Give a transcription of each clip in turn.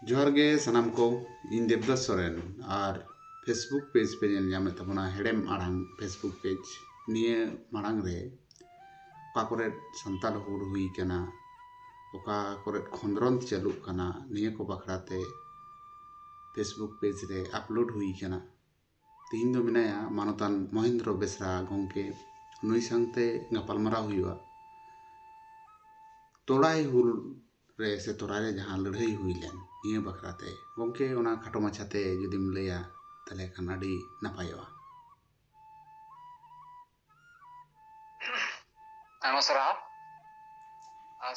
ᱡᱚᱦᱟᱨ ᱜᱮ ᱥᱟᱱᱟᱢ ᱠᱚ ᱤᱧ ᱫᱮᱵᱽᱫᱟᱥ ᱥᱚᱨᱮᱱ ᱟᱨ ᱯᱷᱮᱥᱵᱩᱠ ᱯᱮᱡᱽ ᱯᱮ ᱧᱮᱞ ᱧᱟᱢᱮᱫ ᱛᱟᱵᱚᱱᱟ ᱦᱮᱲᱮᱢ ᱟᱲᱟᱝ ᱯᱷᱮᱥᱵᱩᱠ ᱯᱮᱡᱽ ᱱᱤᱭᱟᱹ ᱢᱟᱲᱟᱝ ᱨᱮ ᱚᱠᱟ ᱠᱚᱨᱮ ᱥᱟᱱᱛᱟᱲ ᱦᱩᱞ ᱦᱩᱭ ᱠᱟᱱᱟ ᱚᱠᱟ ᱠᱚᱨᱮ ᱠᱷᱚᱸᱫᱽᱨᱚᱸᱫᱽ ᱪᱟᱹᱞᱩᱜ ᱠᱟᱱᱟ ᱱᱤᱭᱟᱹ ᱠᱚ ᱵᱟᱠᱷᱨᱟ ᱛᱮ ᱯᱷᱮᱥᱵᱩᱠ ᱯᱮᱡᱽ ᱨᱮ ᱟᱯᱞᱳᱰ ᱦᱩᱭ ᱠᱟᱱᱟ ᱛᱮᱦᱮᱧ ᱫᱚ ᱢᱮᱱᱟᱭᱟ ᱢᱟᱱᱚᱛᱟᱱ ᱢᱚᱦᱮᱱᱫᱨᱚ ᱵᱮᱥᱨᱟ ᱜᱚᱢᱠᱮ ᱱᱩᱭ ᱥᱟᱶᱛᱮ ᱜᱟᱯᱟᱞᱢᱟᱨᱟᱣ ᱦᱩᱭᱩᱜᱼᱟ ᱛᱚᱲᱟᱭ ᱦᱩᱞ ᱨᱮ ᱥᱮ ᱛᱚᱨᱟᱭ ᱨᱮ ᱡᱟᱦᱟᱸ ᱞᱟᱹᱲᱦᱟᱹᱭ ᱦᱩᱭ ᱞᱮᱱ ᱱᱤᱭᱟᱹ ᱵᱟᱠᱷᱨᱟ ᱛᱮ ᱜᱚᱢᱠᱮ ᱚᱱᱟ ᱠᱷᱟᱴᱚ ᱢᱟᱪᱷᱟ ᱛᱮ ᱡᱩᱫᱤᱢ ᱞᱟᱹᱭᱟ ᱛᱟᱦᱚᱞᱮ ᱠᱷᱟᱱ ᱟᱹᱰᱤ ᱱᱟᱯᱟᱭᱚᱜᱼᱟ ᱟᱭᱢᱟ ᱥᱟᱨᱦᱟᱣ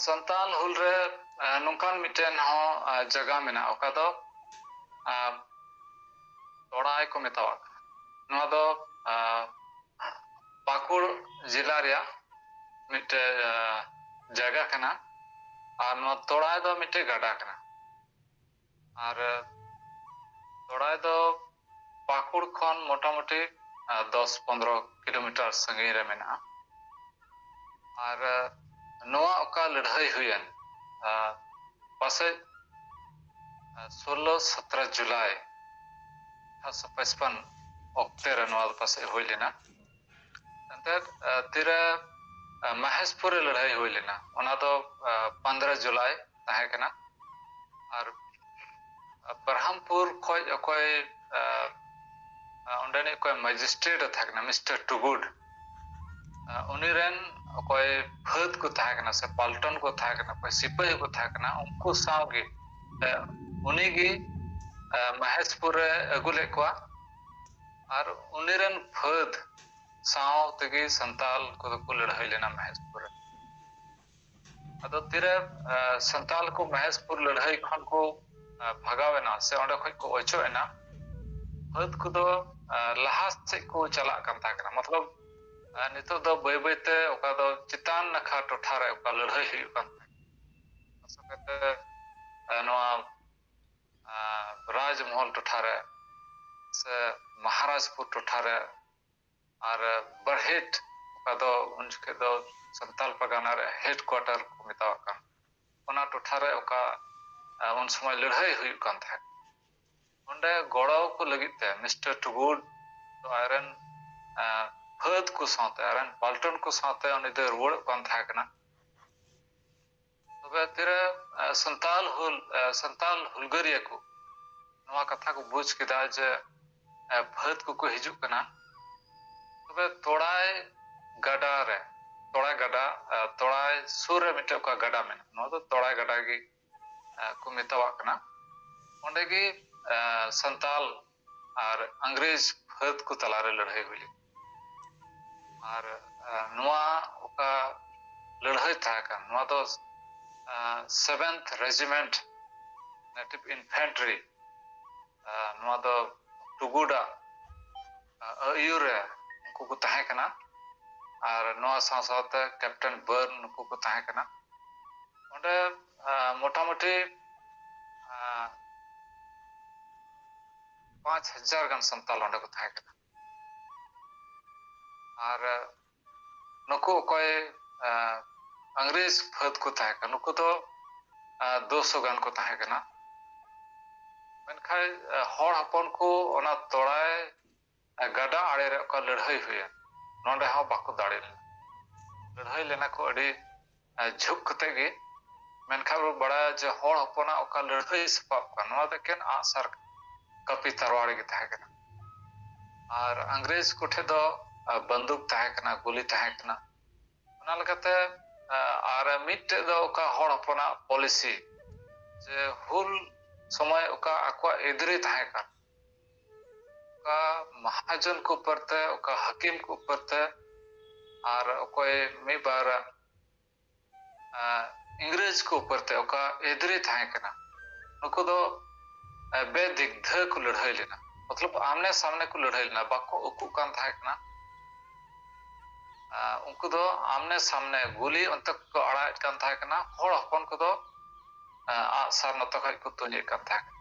ᱥᱟᱱᱛᱟᱞ ᱦᱩᱞ ᱨᱮ ᱱᱚᱝᱠᱟᱱ ᱢᱤᱫᱴᱮᱱ ᱦᱚᱸ ᱡᱟᱭᱜᱟ ᱢᱮᱱᱟᱜᱼᱟ ᱚᱠᱟ ᱫᱚ ᱛᱚᱲᱟᱭ ᱠᱚ ᱢᱮᱛᱟᱣᱟᱜ ᱠᱟᱱᱟ ᱱᱚᱣᱟ ᱫᱚ ᱯᱟᱹᱠᱩᱲ ᱡᱮᱞᱟ ᱨᱮᱭᱟᱜ ᱢᱤᱫᱴᱮᱱ ᱡᱟᱭᱜᱟ ᱠᱟᱱᱟ ᱟᱨ ᱱᱚᱣᱟ ᱛᱚᱲᱟᱭ ᱫᱚ ᱢᱤᱫᱴᱮᱱ ᱜᱟᱰᱟ ᱠᱟᱱᱟ ᱟᱨ ᱥᱚᱲᱟᱭ ᱫᱚ ᱯᱟᱹᱠᱩᱲ ᱠᱷᱚᱱ ᱢᱚᱴᱟᱢᱩᱴᱤ ᱫᱚᱥ ᱯᱚᱱᱨᱚ ᱠᱤᱞᱳᱢᱤᱴᱟᱨ ᱥᱟᱺᱜᱤᱧ ᱨᱮ ᱢᱮᱱᱟᱜᱼᱟ ᱟᱨ ᱱᱚᱣᱟ ᱚᱠᱟ ᱞᱟᱹᱲᱦᱟᱹᱭ ᱦᱩᱭᱮᱱ ᱯᱟᱥᱮᱡ ᱥᱳᱞᱞᱳ ᱥᱚᱛᱨᱚ ᱡᱩᱞᱟᱭ ᱟᱴᱷᱟᱨᱚᱥᱚ ᱯᱟᱸᱪᱯᱚᱱ ᱚᱠᱛᱮ ᱨᱮ ᱱᱚᱣᱟ ᱫᱚ ᱯᱟᱥᱮᱡ ᱦᱩᱭ ᱞᱮᱱᱟ ᱮᱱᱛᱮᱫ ᱛᱤᱨᱮ ᱢᱟᱦᱮᱥᱯᱩᱨ ᱨᱮ ᱞᱟᱹᱲᱦᱟᱹᱭ ᱦᱩᱭ ᱞᱮᱱᱟ ᱚᱱᱟ ᱫᱚ ᱯᱚᱱᱫᱽᱨᱚ ᱡᱩᱞᱟᱭ ᱛᱟᱦᱮᱸ ᱠᱟᱱᱟ ᱟᱨ ᱵᱨᱟᱦᱟᱢᱯᱩᱨ ᱠᱷᱚᱡ ᱚᱠᱚᱭ ᱚᱸᱰᱮᱱᱤᱡ ᱚᱠᱚᱭ ᱢᱮᱡᱤᱥᱴᱨᱮᱴ ᱮ ᱛᱟᱦᱮᱸ ᱠᱟᱱᱟ ᱢᱤᱥᱴᱟᱨ ᱴᱩᱜᱩᱰ ᱩᱱᱤ ᱨᱮᱱ ᱚᱠᱚᱭ ᱯᱷᱟᱹᱫ ᱠᱚ ᱛᱟᱦᱮᱸ ᱠᱟᱱᱟ ᱥᱮ ᱯᱟᱞᱴᱚᱱ ᱠᱚ ᱛᱟᱦᱮᱸ ᱠᱟᱱᱟ ᱚᱠᱚᱭ ᱥᱤᱯᱟᱹᱦᱤ ᱠᱚ ᱛᱟᱦᱮᱸ ᱠᱟᱱᱟ ᱩᱱᱠᱩ ᱥᱟᱶᱜᱮ ᱩᱱᱤᱜᱮ ᱢᱟᱦᱮᱥᱯᱩᱨ ᱨᱮ ᱟᱹᱜᱩ ᱞᱮᱫ ᱠᱚᱣᱟ ᱟᱨ ᱩᱱᱤ ᱨᱮᱱ ᱯᱷᱟᱹᱫᱽ ᱥᱟᱶ ᱛᱮᱜᱮ ᱥᱟᱱᱛᱟᱞ ᱠᱚᱫᱚ ᱠᱚ ᱞᱟᱹᱲᱦᱟᱹᱭ ᱞᱮᱱᱟ ᱢᱚᱦᱮᱥᱯᱩᱨ ᱨᱮ ᱟᱫᱚ ᱛᱤᱨᱮ ᱥᱟᱱᱛᱟᱞ ᱠᱚ ᱢᱚᱦᱮᱥᱯᱩᱨ ᱞᱟᱹᱲᱦᱟᱹᱭ ᱠᱷᱚᱱ ᱠᱚ ᱵᱷᱟᱜᱟᱣ ᱮᱱᱟ ᱥᱮ ᱚᱸᱰᱮ ᱠᱷᱚᱱ ᱠᱚ ᱚᱪᱚᱜ ᱮᱱᱟ ᱯᱷᱟᱹᱫᱽ ᱠᱚᱫᱚ ᱞᱟᱦᱟ ᱥᱮᱫ ᱠᱚ ᱪᱟᱞᱟᱜ ᱠᱟᱱ ᱛᱟᱦᱮᱸ ᱠᱟᱱᱟ ᱢᱚᱛᱞᱚᱵ ᱱᱤᱛᱚᱜ ᱫᱚ ᱵᱟᱹᱭ ᱵᱟᱹᱭᱛᱮ ᱚᱠᱟ ᱫᱚ ᱪᱮᱛᱟᱱ ᱱᱟᱠᱷᱟ ᱴᱚᱴᱷᱟ ᱨᱮ ᱚᱠᱟ ᱞᱟᱹᱲᱦᱟᱹᱭ ᱦᱩᱭᱩᱜ ᱠᱟᱱ ᱛᱟᱦᱮᱸ ᱱᱚᱣᱟ ᱨᱟᱡᱽᱢᱚᱦᱚᱞ ᱴᱚᱴᱷᱟ ᱨᱮ ᱥᱮ ᱢᱚᱦᱟᱨᱟᱡᱽᱯᱩᱨ ᱴᱚᱴᱷᱟ ᱨᱮ ᱟᱨ ᱵᱟᱨᱦᱮᱴ ᱚᱠᱟ ᱫᱚ ᱩᱱ ᱡᱚᱠᱷᱮᱡ ᱫᱚ ᱥᱟᱱᱛᱟᱞ ᱯᱟᱨᱜᱟᱱᱟ ᱨᱮ ᱦᱮᱰ ᱠᱚᱣᱟᱴᱟᱨ ᱠᱚ ᱢᱮᱛᱟᱣᱟᱜ ᱠᱟᱱ ᱚᱱᱟ ᱴᱚᱴᱷᱟ ᱨᱮ ᱚᱠᱟ ᱩᱱ ᱥᱚᱢᱚᱭ ᱞᱟᱹᱲᱦᱟᱹᱭ ᱦᱩᱭᱩᱜ ᱠᱟᱱ ᱛᱟᱦᱮᱸᱫ ᱚᱸᱰᱮ ᱜᱚᱲᱚ ᱠᱚ ᱞᱟᱹᱜᱤᱫ ᱛᱮ ᱢᱤᱥᱴᱟᱨ ᱴᱩᱜᱩᱰ ᱫᱚ ᱟᱡᱨᱮᱱ ᱯᱷᱟᱹᱫ ᱠᱚ ᱥᱟᱶᱛᱮ ᱟᱡᱨᱮᱱ ᱯᱟᱞᱴᱚᱱ ᱠᱚ ᱥᱟᱶᱛᱮ ᱩᱱᱤ ᱫᱚᱭ ᱨᱩᱣᱟᱹᱲᱚᱜ ᱠᱟᱱ ᱛᱟᱦᱮᱸ ᱠᱟᱱᱟ ᱛᱚᱵᱮ ᱛᱤᱨᱮ ᱥᱟᱱᱛᱟᱞ ᱦᱩᱞ ᱥᱟᱱᱛᱟᱞ ᱦᱩᱞᱜᱟᱹᱨᱤᱭᱟᱹ ᱠᱚ ᱱᱚᱣᱟ ᱠᱟᱛᱷᱟ ᱠᱚ ᱵᱩᱡᱽ ᱠᱮᱫᱟ ᱡᱮ ᱯᱷᱟᱹᱫ ᱠᱚᱠᱚ ᱦᱤᱡᱩᱜ ᱠᱟᱱᱟ ᱛᱚᱵᱮ ᱛᱚᱲᱟᱭ ᱜᱟᱰᱟ ᱨᱮ ᱛᱚᱲᱟᱭ ᱜᱟᱰᱟ ᱛᱚᱲᱟᱭ ᱥᱩᱨ ᱨᱮ ᱢᱤᱫᱴᱮᱱ ᱚᱠᱟ ᱜᱟᱰᱟ ᱢᱮᱱᱟᱜᱼᱟ ᱱᱚᱣᱟ ᱫᱚ ᱛᱚᱲᱟᱭ ᱜᱟᱰᱟ ᱜᱮ ᱠᱚ ᱢᱮᱛᱟᱣᱟᱜ ᱠᱟᱱᱟ ᱚᱸᱰᱮ ᱜᱮ ᱥᱟᱱᱛᱟᱞ ᱟᱨ ᱤᱝᱨᱮᱡᱽ ᱯᱷᱟᱹᱫᱽ ᱠᱚ ᱛᱟᱞᱟ ᱨᱮ ᱞᱟᱹᱲᱦᱟᱹᱭ ᱦᱩᱭ ᱞᱮᱱᱟ ᱟᱨ ᱱᱚᱣᱟ ᱚᱠᱟ ᱞᱟᱹᱲᱦᱟᱹᱭ ᱛᱟᱦᱮᱸ ᱠᱟᱱ ᱱᱚᱣᱟ ᱫᱚ ᱥᱮᱵᱷᱮᱱᱛᱷ ᱨᱮᱡᱤᱢᱮᱱᱴ ᱱᱮᱴᱤᱵᱷ ᱤᱱᱯᱷᱮᱱᱴᱨᱤ ᱱᱚᱣᱟ ᱫᱚ ᱴᱩᱜᱩᱰᱟ ᱟᱹᱭᱩᱨ ᱨᱮ ᱩᱱᱠᱩ ᱠᱚ ᱛᱟᱦᱮᱸ ᱠᱟᱱᱟ ᱟᱨ ᱱᱚᱣᱟ ᱥᱟᱶ ᱥᱟᱶᱛᱮ ᱠᱮᱯᱴᱮᱱ ᱵᱟᱨᱱ ᱱᱩᱠᱩ ᱠᱚ ᱛᱟᱦᱮᱸ ᱠᱟᱱᱟ ᱚᱸᱰᱮ ᱢᱚᱴᱟᱢᱩᱴᱤ ᱯᱟᱸᱪ ᱦᱟᱡᱟᱨ ᱜᱟᱱ ᱥᱟᱱᱛᱟᱞ ᱚᱸᱰᱮ ᱠᱚ ᱛᱟᱦᱮᱸ ᱠᱟᱱᱟ ᱟᱨ ᱱᱩᱠᱩ ᱚᱠᱚᱭ ᱤᱝᱨᱮᱡᱽ ᱯᱷᱟᱹᱫ ᱠᱚ ᱛᱟᱦᱮᱸ ᱠᱟᱱᱟ ᱱᱩᱠᱩ ᱫᱚ ᱫᱩᱥᱚ ᱜᱟᱱ ᱠᱚ ᱛᱟᱦᱮᱸ ᱠᱟᱱᱟ ᱢᱮᱱᱠᱷᱟᱱ ᱦᱚᱲ ᱦᱚᱯᱚᱱ ᱠᱚ ᱚᱱᱟ ᱛᱚᱲᱟᱭ ᱟᱨ ᱜᱟᱰᱟ ᱟᱲᱮ ᱨᱮ ᱚᱠᱟ ᱞᱟᱹᱲᱦᱟᱹᱭ ᱦᱩᱭᱮᱱ ᱱᱚᱰᱮ ᱦᱚᱸ ᱵᱟᱠᱚ ᱫᱟᱲᱮ ᱞᱮᱱᱟ ᱞᱟᱹᱲᱦᱟᱹᱭ ᱞᱮᱱᱟ ᱠᱚ ᱟᱹᱰᱤ ᱡᱷᱩᱠ ᱠᱟᱛᱮ ᱜᱮ ᱢᱮᱱᱠᱷᱟᱱ ᱵᱚ ᱵᱟᱲᱟᱭᱟ ᱡᱮ ᱦᱚᱲ ᱦᱚᱯᱚᱱᱟᱜ ᱚᱠᱟ ᱞᱟᱹᱲᱦᱟᱹᱭ ᱥᱟᱯᱟᱵ ᱠᱟᱱᱟ ᱱᱚᱣᱟ ᱫᱚ ᱮᱠᱮᱱ ᱟᱸᱜᱼᱥᱟᱨ ᱠᱟᱹᱯᱤ ᱛᱟᱨᱣᱟᱲ ᱜᱮ ᱛᱟᱦᱮᱸ ᱠᱟᱱᱟ ᱟᱨ ᱤᱝᱨᱮᱡᱽ ᱠᱚᱴᱷᱮᱱ ᱫᱚ ᱵᱟᱱᱫᱩᱠ ᱛᱟᱦᱮᱸ ᱠᱟᱱᱟ ᱜᱩᱞᱤ ᱛᱟᱦᱮᱸ ᱠᱟᱱᱟ ᱚᱱᱟ ᱞᱮᱠᱟᱛᱮ ᱟᱨ ᱢᱤᱫᱴᱮᱡ ᱫᱚ ᱚᱠᱟ ᱦᱚᱲ ᱦᱚᱯᱚᱱᱟᱜ ᱯᱚᱞᱤᱥᱤ ᱡᱮ ᱦᱩᱞ ᱥᱚᱢᱚᱭ ᱚᱠᱟ ᱟᱠᱚᱣᱟᱜ ᱮᱫᱽᱨᱮ ᱛᱟᱦᱮᱸ ᱠᱟᱱ ᱚᱠᱟ ᱢᱟᱦᱟᱡᱚᱱ ᱠᱚ ᱩᱯᱟᱹᱨ ᱛᱮ ᱚᱠᱟ ᱦᱟᱹᱠᱤᱢ ᱠᱚ ᱩᱯᱟᱹᱨ ᱛᱮ ᱟᱨ ᱚᱠᱚᱭ ᱢᱤᱫ ᱵᱟᱨ ᱤᱝᱨᱮᱡᱽ ᱠᱚ ᱩᱯᱟᱹᱨ ᱛᱮ ᱚᱠᱟ ᱮᱫᱽᱨᱮ ᱛᱟᱦᱮᱸ ᱠᱟᱱᱟ ᱱᱩᱠᱩ ᱫᱚ ᱵᱮᱫᱤᱜᱽᱫᱷᱟᱹ ᱠᱚ ᱞᱟᱹᱲᱦᱟᱹᱭ ᱞᱮᱱᱟ ᱢᱚᱛᱞᱚᱵ ᱟᱢᱱᱮ ᱥᱟᱢᱱᱮ ᱠᱚ ᱞᱟᱹᱲᱦᱟᱹᱭ ᱞᱮᱱᱟ ᱵᱟᱠᱚ ᱩᱠᱩᱜ ᱠᱟᱱ ᱛᱟᱦᱮᱸ ᱠᱟᱱᱟ ᱩᱱᱠᱩ ᱫᱚ ᱟᱢᱱᱮ ᱥᱟᱢᱱᱮ ᱜᱩᱞᱤ ᱚᱱᱛᱮ ᱠᱚ ᱟᱲᱟᱜᱮᱫ ᱠᱟᱱ ᱛᱟᱦᱮᱸ ᱠᱟᱱᱟ ᱦᱚᱲ ᱦᱚᱯᱚᱱ ᱠᱚᱫᱚ ᱟᱜᱼᱥᱟᱨ ᱱᱚᱛᱮ ᱠᱷᱚᱡ ᱠᱚ ᱛᱩᱧᱮᱫ ᱠᱟᱱ ᱛᱟᱦᱮᱸ ᱠᱟᱱᱟ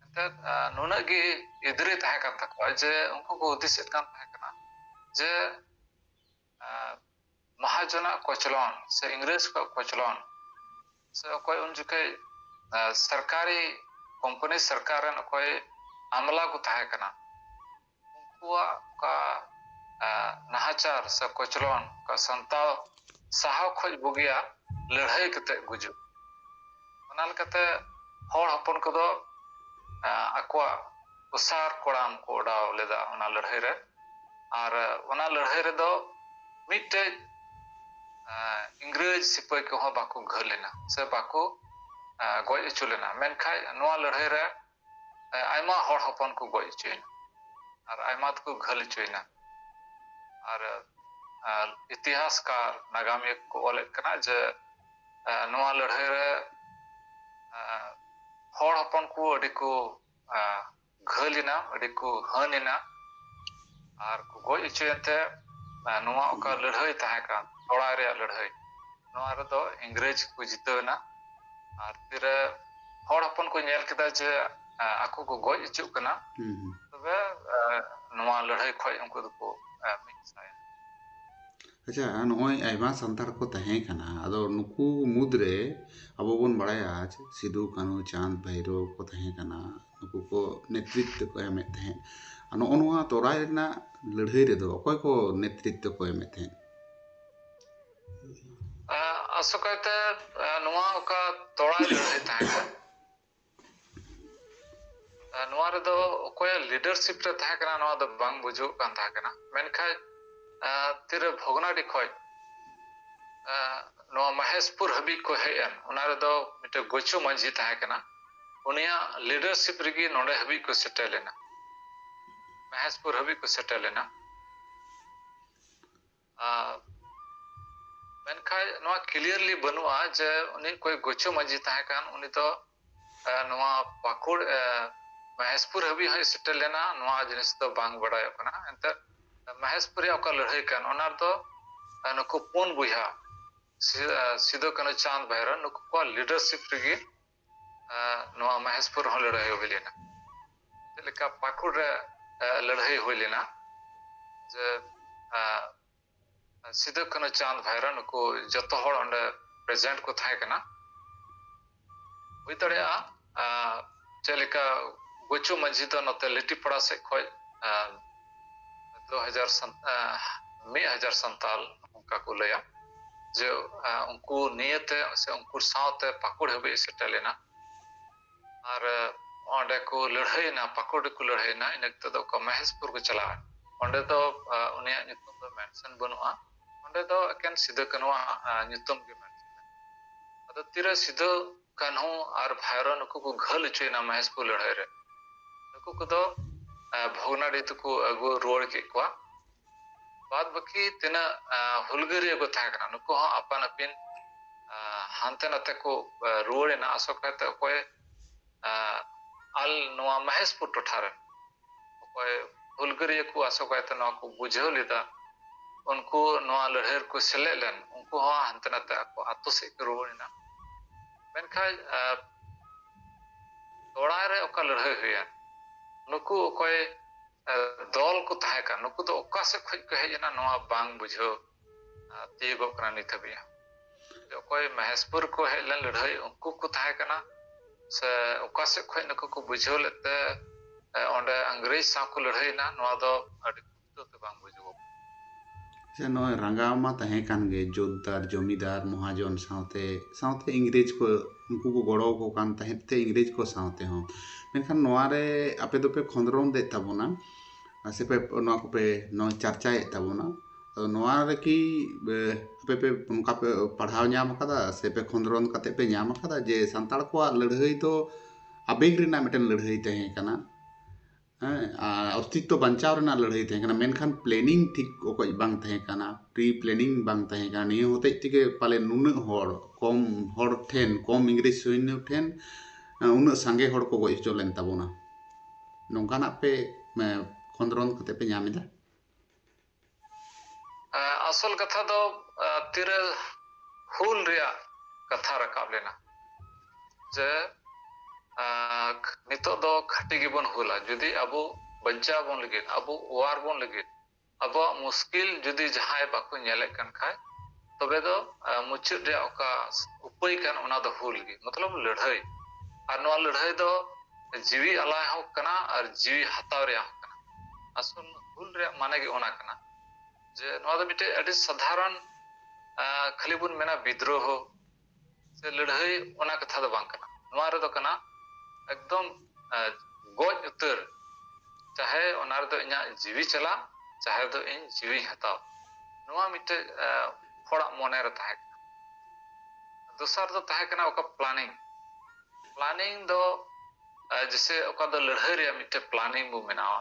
ᱮᱱᱛᱮᱫ ᱱᱩᱱᱟᱹᱜ ᱜᱮ ᱮᱫᱽᱨᱮ ᱛᱟᱦᱮᱸ ᱠᱟᱱ ᱛᱟᱠᱚᱣᱟ ᱡᱮ ᱩᱱᱠᱩ ᱠᱚ ᱦᱩᱫᱤᱥᱮᱫ ᱠᱟᱱ ᱛᱟᱦᱮᱸ ᱠᱟᱱᱟ ᱡᱮ ᱢᱟᱦᱟᱡᱚᱱᱟᱜ ᱠᱚᱪᱞᱚᱱ ᱥᱮ ᱤᱝᱨᱮᱡᱽ ᱠᱚᱣᱟᱜ ᱠᱚᱪᱞᱚᱱ ᱥᱮ ᱚᱠᱚᱭ ᱩᱱ ᱡᱚᱠᱷᱮᱡ ᱥᱚᱨᱠᱟᱨᱤ ᱠᱳᱢᱯᱟᱱᱤ ᱥᱚᱨᱠᱟᱨ ᱨᱮᱱ ᱚᱠᱚᱭ ᱟᱢᱞᱟ ᱠᱚ ᱛᱟᱦᱮᱸ ᱠᱟᱱᱟ ᱩᱱᱠᱩᱣᱟᱜ ᱚᱠᱟ ᱱᱟᱦᱟᱪᱟᱨ ᱥᱮ ᱠᱚᱪᱞᱚᱱ ᱚᱠᱟ ᱥᱟᱱᱛᱟᱲ ᱥᱟᱦᱟᱣ ᱠᱷᱚᱡ ᱵᱩᱜᱤᱭᱟ ᱞᱟᱹᱲᱦᱟᱹᱭ ᱠᱟᱛᱮ ᱜᱩᱡᱩᱜ ᱚᱱᱟ ᱞᱮᱠᱟᱛᱮ ᱦᱚᱲ ᱦᱚᱯᱚᱱ ᱠᱚᱫᱚ ᱟᱠᱚᱣᱟᱜ ᱚᱥᱟᱨ ᱠᱚᱲᱟᱢ ᱠᱚ ᱚᱰᱟᱣ ᱞᱮᱫᱟ ᱚᱱᱟ ᱞᱟᱹᱲᱦᱟᱹᱭ ᱨᱮ ᱟᱨ ᱚᱱᱟ ᱞᱟᱹᱲᱦᱟᱹᱭ ᱨᱮᱫᱚ ᱢᱤᱫᱴᱮᱡ ᱤᱝᱨᱮᱡᱽ ᱥᱤᱯᱟᱹᱦᱤ ᱠᱚᱦᱚᱸ ᱵᱟᱠᱚ ᱜᱷᱟᱹᱞ ᱞᱮᱱᱟ ᱥᱮ ᱵᱟᱠᱚ ᱜᱚᱡ ᱦᱚᱪᱚ ᱞᱮᱱᱟ ᱢᱮᱱᱠᱷᱟᱡ ᱱᱚᱣᱟ ᱞᱟᱹᱲᱦᱟᱹᱭ ᱨᱮ ᱟᱭᱢᱟ ᱦᱚᱲ ᱦᱚᱯᱚᱱ ᱠᱚ ᱜᱚᱡ ᱦᱚᱪᱚᱭᱮᱱᱟ ᱟᱨ ᱟᱭᱢᱟ ᱫᱚᱠᱚ ᱜᱷᱟᱹᱞ ᱦᱚᱪᱚᱭᱮᱱᱟ ᱟᱨ ᱤᱛᱤᱦᱟᱥᱠᱟᱨ ᱱᱟᱜᱟᱢᱤᱭᱟᱹ ᱠᱚ ᱚᱞᱮᱫ ᱠᱟᱱᱟ ᱡᱮ ᱱᱚᱣᱟ ᱞᱟᱹᱲᱦᱟᱹᱭ ᱨᱮ ᱦᱚᱲ ᱦᱚᱯᱚᱱ ᱠᱚ ᱟᱹᱰᱤ ᱠᱚ ᱜᱷᱟᱹᱞ ᱮᱱᱟ ᱟᱹᱰᱤ ᱠᱚ ᱦᱟᱹᱱ ᱮᱱᱟ ᱟᱨ ᱠᱚ ᱜᱚᱡ ᱦᱚᱪᱚᱭᱮᱱ ᱛᱮ ᱱᱚᱣᱟ ᱚᱠᱟ ᱞᱟᱹᱲᱦᱟᱹᱭ ᱛᱟᱦᱮᱸ ᱠᱟᱱ ᱞᱚᱲᱟᱭ ᱨᱮᱭᱟᱜ ᱞᱟᱹᱲᱦᱟᱹᱭ ᱱᱚᱣᱟ ᱨᱮᱫᱚ ᱤᱝᱨᱮᱡᱽ ᱠᱚ ᱡᱤᱛᱟᱹᱣ ᱮᱱᱟ ᱟᱨ ᱛᱤᱨᱮ ᱦᱚᱲ ᱦᱚᱯᱚᱱ ᱠᱚ ᱧᱮᱞ ᱠᱮᱫᱟ ᱡᱮ ᱟᱠᱚ ᱠᱚ ᱜᱚᱡ ᱦᱚᱪᱚᱜ ᱠᱟᱱᱟ ᱛᱚᱵᱮ ᱱᱚᱣᱟ ᱞᱟᱹᱲᱦᱟᱹᱭ ᱠᱷᱚᱡ ᱩᱱᱠᱩ ᱫᱚᱠᱚ ᱢᱤᱫ ᱥᱟᱭᱮᱱᱟ ᱟᱪᱪᱷᱟ ᱱᱚᱜᱼᱚᱭ ᱟᱭᱢᱟ ᱥᱟᱱᱛᱟᱲ ᱠᱚ ᱛᱟᱦᱮᱸ ᱠᱟᱱᱟ ᱟᱫᱚ ᱱᱩᱠᱩ ᱢᱩᱫᱽᱨᱮ ᱟᱵᱚ ᱵᱚᱱ ᱵᱟᱲᱟᱭᱟ ᱡᱮ ᱥᱤᱫᱩ ᱠᱟᱹᱱᱦᱩ ᱪᱟᱸᱫᱽ ᱵᱷᱟᱭᱨᱳ ᱠᱚ ᱛᱟᱦᱮᱸ ᱠᱟᱱᱟ ᱱᱩᱠᱩ ᱠᱚ ᱱᱮᱛᱨᱤᱛᱵ ᱠᱚ ᱮᱢᱮᱫ ᱛᱟᱦᱮᱸᱫ ᱱᱚᱜᱼᱚ ᱱᱚᱣᱟ ᱛᱚᱨᱟᱭ ᱨᱮᱱᱟᱜ ᱞᱟᱹᱲᱦᱟᱹᱭ ᱨᱮᱫᱚ ᱚᱠᱚᱭ ᱠᱚ ᱱᱮᱛᱨᱤᱛᱵ ᱠᱚ ᱮᱢᱮᱫ ᱛᱟᱦᱮᱸᱫ ᱟᱥᱚᱠᱟᱭᱛᱮ ᱱᱚᱣᱟ ᱚᱠᱟ ᱛᱚᱲᱟᱭ ᱞᱟᱹᱲᱦᱟᱹᱭ ᱛᱟᱦᱮᱸ ᱠᱟᱱ ᱱᱚᱣᱟ ᱨᱮᱫᱚ ᱚᱠᱚᱭᱟᱜ ᱞᱤᱰᱟᱨᱥᱤᱯ ᱨᱮ ᱛᱟᱦᱮᱸ ᱠᱟᱱᱟ ᱱᱚᱣᱟ ᱫᱚ ᱵᱟᱝ ᱵᱩᱡᱩᱜ ᱠᱟᱱ ᱛᱟᱦᱮᱸ ᱠᱟᱱᱟ ᱢᱮᱱᱠᱷᱟᱱ ᱛᱤᱨᱮ ᱵᱷᱚᱜᱽᱱᱟᱰᱤ ᱠᱷᱚᱡ ᱱᱚᱣᱟ ᱢᱚᱦᱮᱥᱯᱩᱨ ᱦᱟᱹᱵᱤᱡ ᱠᱚ ᱦᱮᱡ ᱮᱱ ᱚᱱᱟ ᱨᱮᱫᱚ ᱢᱤᱫᱴᱮᱱ ᱜᱚᱪᱩ ᱢᱟᱹᱡᱷᱤ ᱛᱟᱦᱮᱸ ᱠᱟᱱᱟ ᱩᱱᱤᱭᱟᱜ ᱞᱤᱰᱟᱨᱥᱤᱯ ᱨᱮᱜᱮ ᱱᱚᱰᱮ ᱦᱟᱹᱵᱤᱡ ᱠᱚ ᱥᱮᱴᱮᱨ ᱞᱮᱱᱟ ᱢᱚᱦᱮᱥᱯᱩᱨ ᱦᱟᱹᱵᱤᱡ ᱠᱚ ᱥᱮᱴᱮᱨ ᱞᱮᱱᱟ ᱢᱮᱱᱠᱷᱟᱱ ᱱᱚᱣᱟ ᱠᱞᱤᱭᱟᱨᱞᱤ ᱵᱟᱹᱱᱩᱜᱼᱟ ᱡᱮ ᱩᱱᱤ ᱚᱠᱚᱭ ᱜᱩᱪᱩ ᱢᱟᱹᱡᱷᱤ ᱛᱟᱦᱮᱸ ᱠᱟᱱ ᱩᱱᱤ ᱫᱚ ᱱᱚᱣᱟ ᱯᱟᱹᱠᱩᱲ ᱢᱚᱦᱮᱥᱯᱩᱨ ᱦᱟᱹᱵᱤᱡ ᱦᱚᱸᱭ ᱥᱮᱴᱮᱨ ᱞᱮᱱᱟ ᱱᱚᱣᱟ ᱡᱤᱱᱤᱥ ᱫᱚ ᱵᱟᱝ ᱵᱟᱰᱟᱭᱚᱜ ᱠᱟᱱᱟ ᱮᱱᱛᱮ ᱢᱚᱦᱮᱥᱯᱩᱨ ᱨᱮᱭᱟᱜ ᱚᱠᱟ ᱞᱟᱹᱲᱦᱟᱹᱭ ᱠᱟᱱ ᱚᱱᱟ ᱨᱮᱫᱚ ᱱᱩᱠᱩ ᱯᱩᱱ ᱵᱚᱭᱦᱟ ᱥᱤᱫᱩ ᱠᱟᱹᱱᱩ ᱪᱟᱸᱫᱽ ᱵᱷᱟᱭᱨᱚ ᱱᱩᱠᱩ ᱠᱚᱣᱟᱜ ᱞᱤᱰᱟᱨᱥᱤᱯ ᱨᱮᱜᱮ ᱱᱚᱣᱟ ᱢᱚᱦᱮᱥᱯᱩᱨ ᱨᱮᱦᱚᱸ ᱞᱟᱹᱲᱦᱟᱹᱭ ᱦᱩᱭ ᱞᱮᱱᱟ ᱪᱮᱫ ᱞᱮᱠᱟ ᱯᱟᱹᱠᱩᱲ ᱨᱮ ᱞᱟᱹᱲᱦᱟᱹᱭ ᱦᱩᱭ ᱞᱮᱱᱟ ᱡᱮ ᱥᱤᱫᱩ ᱠᱟᱹᱱᱩ ᱪᱟᱸᱫᱽ ᱵᱷᱟᱭᱨᱟ ᱱᱩᱠᱩ ᱡᱚᱛᱚ ᱦᱚᱲ ᱚᱸᱰᱮ ᱯᱨᱮᱡᱮᱱᱴ ᱠᱚ ᱛᱟᱦᱮᱸ ᱠᱟᱱᱟ ᱦᱩᱭ ᱫᱟᱲᱮᱭᱟᱜᱼᱟ ᱪᱮᱫ ᱞᱮᱠᱟ ᱜᱩᱪᱩ ᱢᱟᱹᱡᱷᱤ ᱫᱚ ᱱᱚᱛᱮ ᱞᱤᱴᱤᱯᱟᱲᱟ ᱥᱮᱫ ᱠᱷᱚᱡ ᱫᱩ ᱦᱟᱡᱟᱨ ᱢᱤᱫ ᱦᱟᱡᱟᱨ ᱥᱟᱱᱛᱟᱞ ᱚᱱᱠᱟ ᱠᱚ ᱞᱟᱹᱭᱟ ᱡᱮ ᱩᱱᱠᱩ ᱱᱤᱭᱟᱹᱛᱮ ᱥᱮ ᱩᱱᱠᱩ ᱥᱟᱶᱛᱮ ᱯᱟᱠᱩᱲ ᱦᱟᱹᱵᱤᱡ ᱥᱮᱴᱮᱨ ᱞᱮᱱᱟ ᱟᱨ ᱚᱸᱰᱮ ᱠᱚ ᱞᱟᱹᱲᱦᱟᱹᱭᱮᱱᱟ ᱯᱟᱠᱩᱲ ᱨᱮᱠᱚ ᱞᱟᱹᱲᱦᱟᱹᱭᱮᱱᱟ ᱤᱱᱟᱹ ᱠᱟᱛᱮ ᱫᱚ ᱚᱠᱟ ᱢᱚᱦᱮᱥᱯᱩᱨ ᱠᱚ ᱪᱟᱞᱟᱜᱼᱟ ᱚᱸᱰᱮ ᱫᱚ ᱩᱱᱤᱭᱟᱜ ᱧᱩᱛᱩᱢ ᱫᱚ ᱢᱮᱱᱥᱚᱱ ᱵᱟᱹᱱᱩᱜᱼᱟ ᱚᱸᱰᱮ ᱫᱚ ᱮᱠᱮᱱ ᱥᱤᱫᱟᱹ ᱠᱟᱹᱱᱩᱣᱟᱜ ᱧᱩᱛᱩᱢ ᱜᱮ ᱢᱮᱱᱥᱚᱱ ᱟᱫᱚ ᱛᱤᱨᱮ ᱥᱤᱫᱟᱹ ᱠᱟᱱᱦᱩ ᱟᱨ ᱵᱷᱟᱭᱨᱚ ᱱᱩᱠᱩ ᱠᱚ ᱜᱷᱟᱹᱞ ᱦᱚᱪᱚᱭᱮᱱᱟ ᱢᱚᱦᱮᱥᱯᱩᱨ ᱞᱟᱹᱲᱦᱟᱹᱭ ᱨᱮ ᱱᱩᱠᱩ ᱠᱚᱫᱚ ᱵᱷᱚᱜᱽᱱᱟᱰᱤ ᱛᱮᱠᱚ ᱟᱹᱜᱩ ᱨᱩᱣᱟᱹᱲ ᱠᱮᱫ ᱠᱚᱣᱟ ᱵᱟᱫ ᱵᱟᱹᱠᱤ ᱛᱤᱱᱟᱹᱜ ᱦᱩᱞᱜᱟᱹᱨᱤᱭᱟᱹ ᱠᱚ ᱛᱟᱦᱮᱸ ᱠᱟᱱᱟ ᱱᱩᱠᱩ ᱦᱚᱸ ᱟᱯᱟᱱ ᱟᱹᱯᱤᱱ ᱦᱟᱱᱛᱮ ᱱᱟᱛᱮ ᱠᱚ ᱨᱩᱣᱟᱹᱲᱮᱱᱟ ᱟᱥᱚᱠᱟᱭᱛᱮ ᱚᱠᱚᱭ ᱟᱞ ᱱᱚᱣᱟ ᱢᱚᱦᱮᱥᱯᱩᱨ ᱴᱚᱴᱷᱟ ᱨᱮᱱ ᱚᱠᱚᱭ ᱦᱩᱞᱜᱟᱹᱨᱤᱭᱟᱹ ᱠᱚ ᱟᱥᱚᱠᱟᱭᱛᱮ ᱱᱚᱣᱟ ᱠᱚ ᱵᱩᱡᱷᱟᱹᱣ ᱞᱮᱫᱟ ᱩᱱᱠᱩ ᱱᱚᱣᱟ ᱞᱟᱹᱲᱦᱟᱹᱭ ᱨᱮᱠᱚ ᱥᱮᱞᱮᱫ ᱞᱮᱱ ᱩᱱᱠᱩ ᱦᱚᱸ ᱦᱟᱱᱛᱮ ᱱᱟᱛᱮ ᱟᱠᱚ ᱟᱛᱳ ᱥᱮᱫ ᱠᱚ ᱨᱩᱣᱟᱹᱲ ᱮᱱᱟ ᱢᱮᱱᱠᱷᱟᱱ ᱛᱚᱲᱟᱭ ᱨᱮ ᱚᱠᱟ ᱞᱟᱹᱲᱦᱟᱹᱭ ᱦᱩᱭᱮᱱ ᱱᱩᱠᱩ ᱚᱠᱚᱭ ᱫᱚᱞ ᱠᱚ ᱛᱟᱦᱮᱸ ᱠᱟᱱ ᱱᱩᱠᱩ ᱫᱚ ᱚᱠᱟ ᱥᱮᱫ ᱠᱷᱚᱱ ᱠᱚ ᱦᱮᱡ ᱮᱱᱟ ᱱᱚᱣᱟ ᱵᱟᱝ ᱵᱩᱡᱷᱟᱹᱣ ᱛᱤᱭᱳᱜᱚᱜ ᱠᱟᱱᱟ ᱱᱤᱛ ᱦᱟᱹᱵᱤᱡ ᱦᱚᱸ ᱚᱠᱚᱭ ᱢᱚᱦᱮᱥᱯᱩᱨ ᱠᱚ ᱦᱮᱡ ᱞᱮᱱ ᱞᱟᱹᱲᱦᱟᱹᱭ ᱩᱱᱠᱩ ᱠᱚ ᱛᱟᱦᱮᱸ ᱠᱟᱱᱟ ᱥᱮ ᱚᱠᱟ ᱥᱮᱫ ᱠᱷᱚᱱ ᱱᱩᱠᱩ ᱠᱚ ᱵᱩᱡᱷᱟᱹᱣ ᱞᱮᱫ ᱛᱮ ᱚᱸᱰᱮ ᱤᱝᱨᱮᱡᱽ ᱥᱟᱶ ᱠᱚ ᱞᱟᱹᱲᱦᱟᱹᱭᱮᱱᱟ ᱱᱚᱣᱟ ᱫᱚ ᱟᱹᱰᱤ ᱯᱩᱥᱴᱟᱹᱣ ᱛᱮ ᱵᱟᱝ ᱵᱩᱡᱩᱜᱚᱜ ᱥᱮ ᱱᱚᱜᱼᱚᱭ ᱨᱟᱸᱜᱟᱣ ᱢᱟ ᱛᱟᱦᱮᱸ ᱠᱟᱱ ᱜᱮ ᱡᱳᱛᱫᱟᱨ ᱡᱚᱢᱤᱫᱟᱨ ᱢᱚᱦᱟᱡᱚᱱ ᱥᱟᱶᱛᱮ ᱥᱟᱶᱛᱮ ᱤᱝᱨᱮᱡᱽ ᱠᱚ ᱩᱱᱠᱩ ᱠᱚ ᱜᱚᱲᱚ ᱟᱠᱚ ᱠᱟᱱ ᱛᱟᱦᱮᱸᱫ ᱛᱮ ᱤᱝᱨᱮᱡᱽ ᱠᱚ ᱥᱟᱶᱛᱮ ᱦᱚᱸ ᱢᱮᱱᱠᱷᱟᱱ ᱱᱚᱣᱟ ᱨᱮ ᱟᱯᱮ ᱫᱚᱯᱮ ᱠᱷᱚᱸᱫᱽᱨᱚᱸᱫᱽ ᱮᱫ ᱛᱟᱵᱚᱱᱟ ᱢᱟᱥᱮ ᱯᱮ ᱱᱚᱣᱟ ᱠᱚᱯᱮ ᱱᱚᱣᱟ ᱪᱟᱨᱪᱟᱭᱮᱫ ᱛᱟᱵᱚᱱᱟ ᱟᱫᱚ ᱱᱚᱣᱟ ᱨᱮᱠᱤ ᱟᱯᱮ ᱯᱮ ᱚᱱᱠᱟ ᱯᱮ ᱯᱟᱲᱦᱟᱣ ᱧᱟᱢ ᱠᱟᱫᱟ ᱥᱮ ᱯᱮ ᱠᱷᱚᱸᱫᱽᱨᱚᱱ ᱠᱟᱛᱮ ᱯᱮ ᱧᱟᱢ ᱠᱟᱫᱟ ᱡᱮ ᱥᱟᱱᱛᱟᱲ ᱠᱚᱣᱟᱜ ᱞᱟᱹᱲᱦᱟᱹᱭ ᱫᱚ ᱟᱵᱮᱜᱽ ᱨᱮᱱᱟᱜ ᱢᱤᱫᱴᱮᱱ ᱞᱟᱹᱲᱦᱟᱹᱭ ᱛᱟᱦᱮᱸ ᱠᱟᱱᱟ ᱦᱮᱸ ᱟᱨ ᱚᱥᱛᱤᱛᱛᱚ ᱵᱟᱧᱪᱟᱣ ᱨᱮᱱᱟᱜ ᱞᱟᱹᱲᱦᱟᱹᱭ ᱛᱟᱦᱮᱸ ᱠᱟᱱᱟ ᱢᱮᱱᱠᱷᱟᱱ ᱯᱞᱮᱱᱤᱝ ᱴᱷᱤᱠ ᱚᱠᱚᱡ ᱵᱟᱝ ᱛᱟᱦᱮᱸ ᱠᱟᱱᱟ ᱯᱨᱤ ᱯᱞᱮᱱᱤᱝ ᱵᱟᱝ ᱛᱟᱦᱮᱸ ᱠᱟᱱᱟ ᱱᱤᱭᱟᱹ ᱦᱚᱛᱮᱡ ᱛᱮᱜᱮ ᱯᱟᱞᱮ ᱱᱩᱱᱟᱹᱜ ᱦᱚᱲ ᱠᱚᱢ ᱦᱚᱲ ᱴᱷᱮᱱ ᱠᱚᱢ ᱤᱝᱨᱮᱡᱽ ᱥᱳᱭᱱᱚ ᱴᱷᱮᱱ ᱩᱱᱟᱹᱜ ᱥᱟᱸᱜᱮ ᱦᱚᱲ ᱠᱚ ᱜᱚᱡ ᱦᱚᱪᱚ ᱞᱮᱱ ᱛᱟᱵᱚᱱᱟ ᱱᱚᱝᱠᱟᱱᱟᱜ ᱯᱮ ᱠᱷᱚᱸᱫᱽᱨᱚᱱ ᱠᱟᱛᱮ ᱯᱮ ᱧᱟᱢ ᱮᱫᱟ ᱟᱥᱚᱞ ᱠᱟᱛᱷᱟ ᱫᱚ ᱛᱤᱨᱮ ᱦᱩᱞ ᱨᱮᱭᱟᱜ ᱠᱟᱛᱷᱟ ᱨᱟᱠᱟᱵ ᱞᱮᱱᱟ ᱡᱮ ᱱᱤᱛᱚᱜ ᱫᱚ ᱠᱷᱟᱹᱴᱤ ᱜᱮᱵᱚᱱ ᱦᱩᱞᱟ ᱡᱩᱫᱤ ᱟᱵᱚ ᱵᱟᱧᱪᱟᱣ ᱵᱚᱱ ᱞᱟᱹᱜᱤᱫ ᱟᱵᱚ ᱚᱣᱟᱨ ᱵᱚᱱ ᱞᱟᱹᱜᱤᱫ ᱟᱵᱚᱣᱟᱜ ᱢᱩᱥᱠᱤᱞ ᱡᱩᱫᱤ ᱡᱟᱦᱟᱸᱭ ᱵᱟᱠᱚ ᱧᱮᱞᱮᱫ ᱠᱟᱱ ᱠᱷᱟᱡ ᱛᱚᱵᱮ ᱫᱚ ᱢᱩᱪᱟᱹᱫ ᱨᱮᱭᱟᱜ ᱚᱠᱟ ᱩᱯᱟᱹᱭ ᱠᱟᱱ ᱚᱱᱟ ᱫᱚ ᱦᱩᱞ ᱜᱮ ᱢᱚᱛᱞᱚᱵ ᱞᱟᱹᱲᱦᱟᱹᱭ ᱟᱨ ᱱᱚᱣᱟ ᱞᱟᱹᱲᱦᱟᱹᱭ ᱫᱚ ᱡᱤᱣᱤ ᱟᱞᱟᱭ ᱦᱚᱸ ᱠᱟᱱᱟ ᱟᱨ ᱡᱤᱣᱤ ᱦᱟᱛᱟᱣ ᱨᱮᱭᱟᱜ ᱦᱚᱸ ᱠᱟᱱᱟ ᱟᱥᱚᱞ ᱦᱩᱞ ᱨᱮᱭᱟᱜ ᱢᱟᱱᱮ ᱜᱮ ᱚᱱᱟ ᱠᱟᱱᱟ ᱡᱮ ᱱᱚᱣᱟ ᱫᱚ ᱢᱤᱫᱴᱮᱡ ᱟᱹᱰᱤ ᱥᱟᱫᱷᱟᱨᱚᱱ ᱠᱷᱟᱹᱞᱤ ᱵᱚᱱ ᱢᱮᱱᱟ ᱵᱤᱫᱽᱨᱳᱦᱚ ᱥᱮ ᱞᱟᱹᱲᱦᱟᱹᱭ ᱚᱱᱟ ᱠᱟᱛᱷᱟ ᱫᱚ ᱵᱟᱝ ᱠᱟᱱᱟ ᱱᱚᱣᱟ ᱨᱮᱫᱚ ᱠᱟᱱᱟ ᱮᱠᱫᱚᱢ ᱟᱸ, ᱜᱚᱡ ᱩᱛᱟᱹᱨ ᱪᱟᱦᱮ ᱚᱱᱟ ᱨᱮᱫᱚ ᱤᱧᱟᱹᱜ ᱡᱤᱣᱤ ᱪᱟᱞᱟᱜ ᱪᱟᱦᱮ ᱫᱚ ᱤᱧ ᱡᱤᱣᱤᱧ ᱦᱟᱛᱟᱣ ᱱᱚᱣᱟ ᱢᱤᱫᱴᱮᱡ ᱟᱸ, ᱦᱚᱲᱟᱜ ᱢᱚᱱᱮ ᱨᱮ ᱛᱟᱦᱮᱸ ᱠᱟᱱᱟ ᱫᱚᱥᱟᱨ ᱫᱚ ᱛᱟᱦᱮᱸ ᱠᱟᱱᱟ ᱚᱠᱟ ᱯᱞᱟᱱᱤᱝ ᱯᱞᱟᱱᱤᱝ ᱫᱚ ᱟᱸ, ᱡᱮᱥᱮ ᱚᱠᱟ ᱫᱚ ᱞᱟᱹᱲᱦᱟᱹᱭ ᱨᱮᱭᱟᱜ ᱢᱤᱫᱴᱮᱡ ᱯᱞᱟᱱᱤᱝ ᱵᱚ ᱵᱮᱱᱟᱣᱟ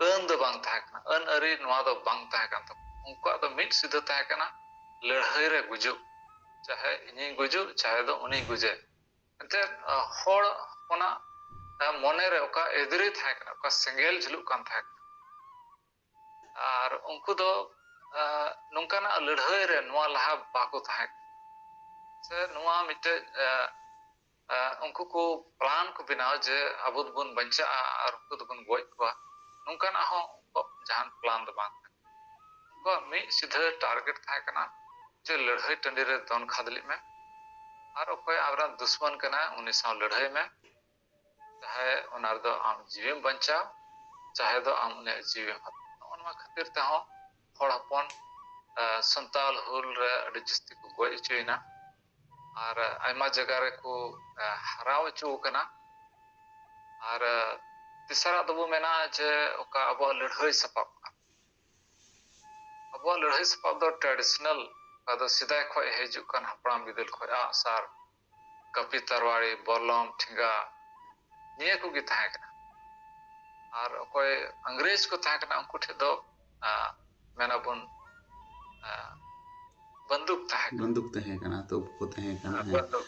ᱟᱹᱱ ᱫᱚ ᱵᱟᱝ ᱛᱟᱦᱮᱸ ᱠᱟᱱᱟ ᱟᱹᱱ ᱟᱹᱨᱤ ᱱᱚᱣᱟ ᱫᱚ ᱵᱟᱝ ᱛᱟᱦᱮᱸ ᱠᱟᱱ ᱛᱟᱠᱚᱣᱟ ᱩᱱᱠᱩᱣᱟᱜ ᱫᱚ ᱢᱤᱫ ᱥᱤᱫᱷᱟᱹ ᱛᱟᱦᱮᱸ ᱠᱟᱱᱟ ᱞᱟᱹᱲᱦᱟᱹᱭ ᱨᱮ ᱜᱩᱡᱩᱜ ᱪᱟᱦᱮ ᱤᱧᱤᱧ ᱜᱩᱡᱩᱜ ᱪᱟᱦᱮ ᱫᱚ ᱩᱱᱤ ᱜᱩᱡᱮ ᱮᱱᱛᱮᱫ ᱦᱚᱲ ᱦᱚᱯᱚᱱᱟᱜ ᱢᱚᱱᱮ ᱨᱮ ᱚᱠᱟ ᱮᱫᱽᱨᱮ ᱛᱟᱦᱮᱸ ᱠᱟᱱᱟ ᱚᱠᱟ ᱥᱮᱸᱜᱮᱞ ᱡᱷᱩᱞᱩᱜ ᱠᱟᱱ ᱛᱟᱦᱮᱸ ᱠᱟᱱᱟ ᱟᱨ ᱩᱱᱠᱩ ᱫᱚ ᱱᱚᱝᱠᱟᱱᱟᱜ ᱞᱟᱹᱲᱦᱟᱹᱭ ᱨᱮ ᱱᱚᱣᱟ ᱞᱟᱦᱟ ᱵᱟᱠᱚ ᱛᱟᱦᱮᱸ ᱠᱟᱱᱟ ᱥᱮ ᱱᱚᱣᱟ ᱢᱤᱫᱴᱮᱡ ᱩᱱᱠᱩ ᱠᱚ ᱯᱞᱟᱱ ᱠᱚ ᱵᱮᱱᱟᱣ ᱡᱮ ᱟᱵᱚ ᱫᱚᱵᱚᱱ ᱵᱟᱧᱪᱟᱜᱼᱟ ᱟᱨ ᱩᱱᱠᱩ ᱫᱚᱵᱚᱱ ᱜᱚᱡ ᱠᱚᱣᱟ ᱱᱚᱝᱠᱟᱱᱟᱜ ᱦᱚᱸ ᱩᱱᱠᱩᱣᱟᱜ ᱡᱟᱦᱟᱱ ᱯᱞᱟᱱ ᱫᱚ ᱵᱟᱝ ᱛᱟᱦᱮᱸ ᱩᱱᱠᱩᱣᱟᱜ ᱢᱤᱫ ᱥᱤᱫᱷᱟᱹ ᱴᱟᱨᱜᱮᱴ ᱛᱟᱦᱮᱸ ᱠᱟᱱᱟ ᱡᱮ ᱞᱟᱹᱲᱦᱟᱹᱭ ᱴᱟᱺᱰᱤ ᱨᱮ ᱫᱚᱱ ᱠᱷᱟᱫᱽᱞᱮᱜ ᱢᱮ ᱟᱨ ᱚᱠᱚᱭ ᱟᱢᱨᱮᱱ ᱫᱩᱥᱢᱟᱱ ᱠᱟᱱᱟᱭ ᱩᱱᱤ ᱥᱟᱶ ᱞᱟᱹᱲᱦᱟᱹᱭ ᱢᱮ ᱪᱟᱦᱮ ᱚᱱᱟ ᱨᱮᱫᱚ ᱟᱢ ᱡᱤᱣᱤᱢ ᱵᱟᱧᱪᱟᱣ ᱪᱟᱦᱮ ᱫᱚ ᱟᱢ ᱩᱱᱤᱭᱟᱜ ᱡᱤᱣᱤᱢ ᱦᱟᱛᱟᱣ ᱱᱚᱜᱼᱚ ᱱᱚᱣᱟ ᱠᱷᱟᱹᱛᱤᱨ ᱛᱮᱦᱚᱸ ᱦᱚᱲ ᱦᱚᱯᱚᱱ ᱥᱟᱱᱛᱟᱞ ᱦᱩᱞ ᱨᱮ ᱟᱹᱰᱤ ᱡᱟᱹᱥᱛᱤ ᱠᱚ ᱜᱚᱡ ᱦᱚᱪᱚᱭᱮᱱᱟ ᱟᱨ ᱟᱭᱢᱟ ᱡᱟᱭᱜᱟ ᱨᱮᱠᱚ ᱦᱟᱨᱟ ᱦᱚᱪᱚ ᱟᱠᱟᱱᱟ ᱟᱨ ᱛᱮᱥᱟᱨᱟᱜ ᱫᱚᱵᱚ ᱢᱮᱱᱟ ᱡᱮ ᱚᱠᱟ ᱟᱵᱚᱣᱟᱜ ᱞᱟᱹᱲᱦᱟᱹᱭ ᱥᱟᱯᱟᱵ ᱠᱟᱱᱟ ᱟᱵᱚᱣᱟᱜ ᱞᱟᱹᱲᱦᱟᱹᱭ ᱥᱟᱯᱟᱵ ᱫᱚ ᱴᱨᱟᱰᱤᱥᱚᱱᱟᱞ ᱚᱠᱟ ᱫᱚ ᱥᱮᱫᱟᱭ ᱠᱷᱚᱱ ᱦᱤᱡᱩᱜ ᱠᱟᱱ ᱦᱟᱯᱲᱟᱢ ᱵᱤᱫᱟᱹᱞ ᱠᱷᱚᱱ ᱟᱸᱜ ᱥᱟᱨ ᱠᱟᱹᱯᱤ ᱛᱟᱨᱣᱟᱲᱤ ᱵᱚᱞᱞᱚᱢ ᱴᱷᱮᱸᱜᱟ ᱱᱤᱭᱟᱹ ᱠᱚᱜᱮ ᱛᱟᱦᱮᱸ ᱠᱟᱱᱟ ᱟᱨ ᱚᱠᱚᱭ ᱤᱝᱨᱮᱡᱽ ᱠᱚ ᱛᱟᱦᱮᱸ ᱠᱟᱱᱟ ᱩᱱᱠᱩ ᱴᱷᱮᱱ ᱫᱚ ᱢᱮᱱ ᱟᱵᱚᱱ ᱵᱚᱱᱫᱩᱠ ᱛᱟᱦᱮᱸ ᱠᱟᱱᱟ ᱵᱚᱱᱫᱩᱠ ᱛᱟᱦᱮᱸ ᱠᱟᱱᱟ ᱛᱚᱯ ᱠᱚ ᱛᱟᱦᱮᱸ ᱠᱟᱱᱟ ᱵᱚᱱᱫᱩᱠ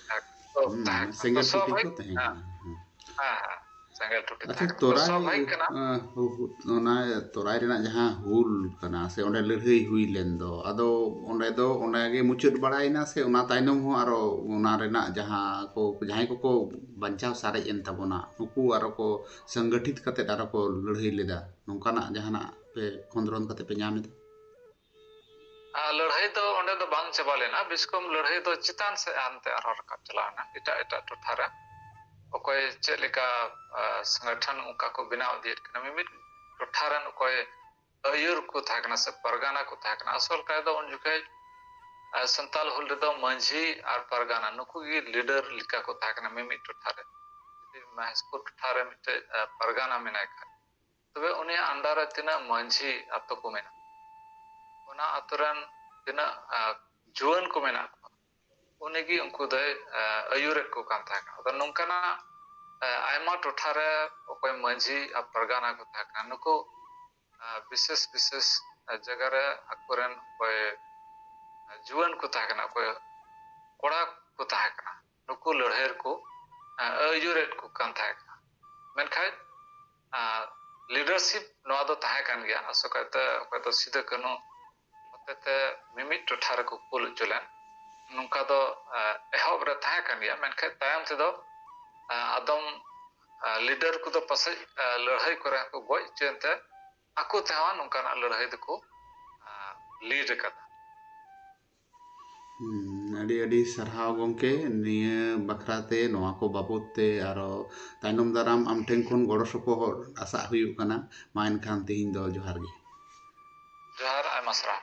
ᱛᱟᱦᱮᱸ ᱠᱟᱱᱟ ᱥᱮᱸᱜᱮᱞ ᱴᱩᱴᱤ ᱠᱚ ᱛᱟᱦᱮᱸ ᱠᱟᱱᱟ ᱥᱮᱸᱜᱮᱞ ᱴᱩᱴᱤ ᱟᱪᱪᱷᱟ ᱛᱚᱨᱟᱭ ᱚᱱᱟ ᱛᱚᱨᱟᱭ ᱨᱮᱱᱟᱜ ᱡᱟᱦᱟᱸ ᱦᱩᱞ ᱠᱟᱱᱟ ᱥᱮ ᱚᱸᱰᱮ ᱞᱟᱹᱲᱦᱟᱹᱭ ᱦᱩᱭ ᱞᱮᱱ ᱫᱚ ᱟᱫᱚ ᱚᱸᱰᱮ ᱫᱚ ᱚᱱᱟᱜᱮ ᱢᱩᱪᱟᱹᱫ ᱵᱟᱲᱟᱭᱮᱱᱟ ᱥᱮ ᱚᱱᱟ ᱛᱟᱭᱱᱚᱢ ᱦᱚᱸ ᱟᱨᱚ ᱚᱱᱟ ᱨᱮᱱᱟᱜ ᱡᱟᱦᱟᱸ ᱠᱚ ᱡᱟᱦᱟᱸᱭ ᱠᱚᱠᱚ ᱵᱟᱧᱪᱟᱣ ᱥᱟᱨᱮᱡ ᱮᱱ ᱛᱟᱵᱚᱱᱟ ᱱᱩᱠᱩ ᱟᱨᱚ ᱠᱚ ᱥᱚᱝᱜᱚᱴᱷᱤᱛ ᱠᱟᱛᱮ ᱟᱨᱚ ᱠᱚ ᱞᱟᱹᱲᱦᱟᱹᱭ ᱞᱮᱫᱟ ᱱᱚᱝᱠᱟᱱᱟᱜ ᱡᱟᱦᱟᱱᱟᱜ ᱯᱮ ᱠᱷᱚᱸᱫᱽᱨᱚᱱ ᱠᱟᱛᱮ ᱯᱮ ᱧᱟᱢ ᱮᱫᱟ ᱞᱟᱹᱲᱦᱟᱹᱭ ᱫᱚ ᱚᱸᱰᱮ ᱫᱚ ᱵᱟᱝ ᱪᱟᱵᱟ ᱞᱮᱱᱟ ᱵᱤᱥᱠᱚᱢ ᱞᱟᱹᱲᱦᱟᱹᱭ ᱫᱚ ᱪᱮᱛᱟᱱ ᱥᱮᱫ ᱦᱟᱱᱛᱮ ᱟᱨᱦᱚᱸ ᱨᱟᱠᱟᱵ ᱪᱟᱞᱟᱣᱱᱟ ᱮᱴᱟᱜ ᱮᱴᱟᱜ ᱴᱚᱴᱷᱟ ᱨᱮ ᱚᱠᱚᱭ ᱪᱮᱫ ᱞᱮᱠᱟ ᱥᱚᱝᱜᱚᱴᱷᱚᱱ ᱚᱱᱠᱟ ᱠᱚ ᱵᱮᱱᱟᱣ ᱤᱫᱤᱭᱮᱫ ᱠᱟᱱᱟ ᱢᱤᱢᱤᱫ ᱴᱚᱴᱷᱟ ᱨᱮᱱ ᱚᱠᱚᱭ ᱟᱹᱭᱩᱨ ᱠᱚ ᱛᱟᱦᱮᱸ ᱠᱟᱱᱟ ᱥᱮ ᱯᱟᱨᱜᱟᱱᱟ ᱠᱚ ᱛᱟᱦᱮᱸ ᱠᱟᱱᱟ ᱟᱥᱚᱞ ᱠᱟᱭ ᱫᱚ ᱩᱱ ᱡᱚᱠᱷᱮᱡ ᱥᱟᱱᱛᱟᱞ ᱦᱩᱞ ᱨᱮᱫᱚ ᱢᱟᱹᱡᱷᱤ ᱟᱨ ᱯᱟᱨᱜᱟᱱᱟ ᱱᱩᱠᱩ ᱜᱮ ᱞᱤᱰᱟᱨ ᱞᱮᱠᱟ ᱠᱚ ᱛᱟᱦᱮᱸ ᱠᱟᱱᱟ ᱢᱤᱢᱤᱫ ᱴᱚᱴᱷᱟ ᱨᱮ ᱡᱩᱫᱤ ᱢᱚᱦᱮᱥᱯᱩᱨ ᱴᱚᱴᱷᱟ ᱨᱮ ᱢᱤᱫᱴᱮᱡ ᱯᱟᱨᱜᱟᱱᱟ ᱢᱮᱱᱟᱭ ᱠᱷᱟᱱ ᱛᱚᱵᱮ ᱩᱱᱤᱭᱟᱜ ᱟᱱᱰᱟᱨ ᱨᱮ ᱛᱤᱱᱟᱹᱜ ᱢᱟᱹᱡᱷᱤ ᱟᱛᱳ ᱠᱚ ᱢᱮᱱᱟᱜᱼᱟ ᱚᱱᱟ ᱟᱛᱳ ᱨᱮᱱ ᱛᱤᱱᱟᱹᱜ ᱡᱩᱣᱟᱹᱱ ᱠᱚ ᱢᱮᱱᱟᱜ ᱠᱚᱣᱟ ᱩᱱᱤ ᱜᱮ ᱩᱱᱠᱩ ᱫᱚᱭ ᱟᱹᱭᱩᱨᱮᱫ ᱠᱚ ᱠᱟᱱ ᱛᱟᱦᱮᱸ ᱠᱟᱱᱟ ᱟᱫᱚ ᱱᱚᱝᱠᱟᱱᱟᱜ ᱟᱭᱢᱟ ᱴᱚᱴᱷᱟ ᱨᱮ ᱚᱠᱚᱭ ᱢᱟᱺᱡᱷᱤ ᱟᱨ ᱯᱟᱨᱜᱟᱱᱟ ᱠᱚ ᱛᱟᱦᱮᱸ ᱠᱟᱱᱟ ᱱᱩᱠᱩ ᱵᱤᱥᱮᱥ ᱵᱤᱥᱮᱥ ᱡᱟᱭᱜᱟ ᱨᱮ ᱟᱠᱚᱨᱮᱱ ᱚᱠᱚᱭ ᱡᱩᱣᱟᱹᱱ ᱠᱚ ᱛᱟᱦᱮᱸ ᱠᱟᱱᱟ ᱚᱠᱚᱭ ᱠᱚᱲᱟ ᱠᱚ ᱛᱟᱦᱮᱸ ᱠᱟᱱᱟ ᱱᱩᱠᱩ ᱞᱟᱹᱲᱦᱟᱹᱭ ᱨᱮᱠᱚ ᱟᱹᱭᱩᱨᱮᱫ ᱠᱚ ᱠᱟᱱ ᱛᱟᱦᱮᱸ ᱠᱟᱱᱟ ᱢᱮᱱᱠᱷᱟᱱ ᱞᱤᱰᱟᱨᱥᱤᱯ ᱱᱚᱣᱟ ᱫᱚ ᱛᱟᱦᱮᱸ ᱠᱟᱱ ᱜᱮᱭᱟ ᱟᱥᱚᱠᱟᱭᱛᱮ ᱚᱠᱚᱭ ᱫᱚ ᱥᱤᱫᱟᱹ ᱠᱟᱹᱱᱩ ᱦᱚᱛᱮᱛᱮ ᱢᱤᱢᱤᱫ ᱴᱚᱴᱷᱟ ᱨᱮᱠᱚ ᱠᱩᱞ ᱦᱚᱪᱚ ᱞᱮᱱ ᱱᱚᱝᱠᱟ ᱫᱚ ᱮᱦᱚᱵ ᱨᱮ ᱛᱟᱦᱮᱸ ᱠᱟᱱ ᱜᱮᱭᱟ ᱢᱮᱱᱠᱷᱟᱱ ᱛᱟᱭᱚᱢ ᱛᱮᱫᱚ ᱟᱫᱚᱢ ᱞᱤᱰᱟᱨ ᱠᱚᱫᱚ ᱯᱟᱥᱮᱡ ᱞᱟᱹᱲᱦᱟᱹᱭ ᱠᱚᱨᱮ ᱦᱚᱸᱠᱚ ᱜᱚᱡ ᱦᱚᱪᱚᱭᱮᱱ ᱛᱮ ᱟᱠᱚ ᱛᱮᱦᱚᱸ ᱱᱚᱝᱠᱟᱱᱟᱜ ᱞᱟᱹᱲᱦᱟᱹᱭ ᱫᱚᱠᱚ ᱞᱤᱰ ᱟᱠᱟᱫᱟ ᱟᱹᱰᱤ ᱟᱹᱰᱤ ᱥᱟᱨᱦᱟᱣ ᱜᱚᱢᱠᱮ ᱱᱤᱭᱟᱹ ᱵᱟᱠᱷᱨᱟ ᱛᱮ ᱱᱚᱣᱟ ᱠᱚ ᱵᱟᱵᱚᱫ ᱛᱮ ᱟᱨᱚ ᱛᱟᱭᱱᱚᱢ ᱫᱟᱨᱟᱢ ᱟᱢ ᱴᱷᱮᱱ ᱠᱷᱚᱱ ᱜᱚᱲᱚ ᱥᱚᱯᱚᱦᱚᱫ ᱟᱥᱟᱜ ᱦᱩᱭᱩᱜ ᱠᱟᱱᱟ ᱢᱟ ᱮᱱᱠᱷᱟᱱ ᱛᱮᱦᱮᱧ ᱫᱚ ᱡᱚᱦᱟᱨ ᱜᱮ ᱡᱚᱦᱟᱨ ᱟᱭᱢᱟ ᱥᱟᱨᱦᱟᱣ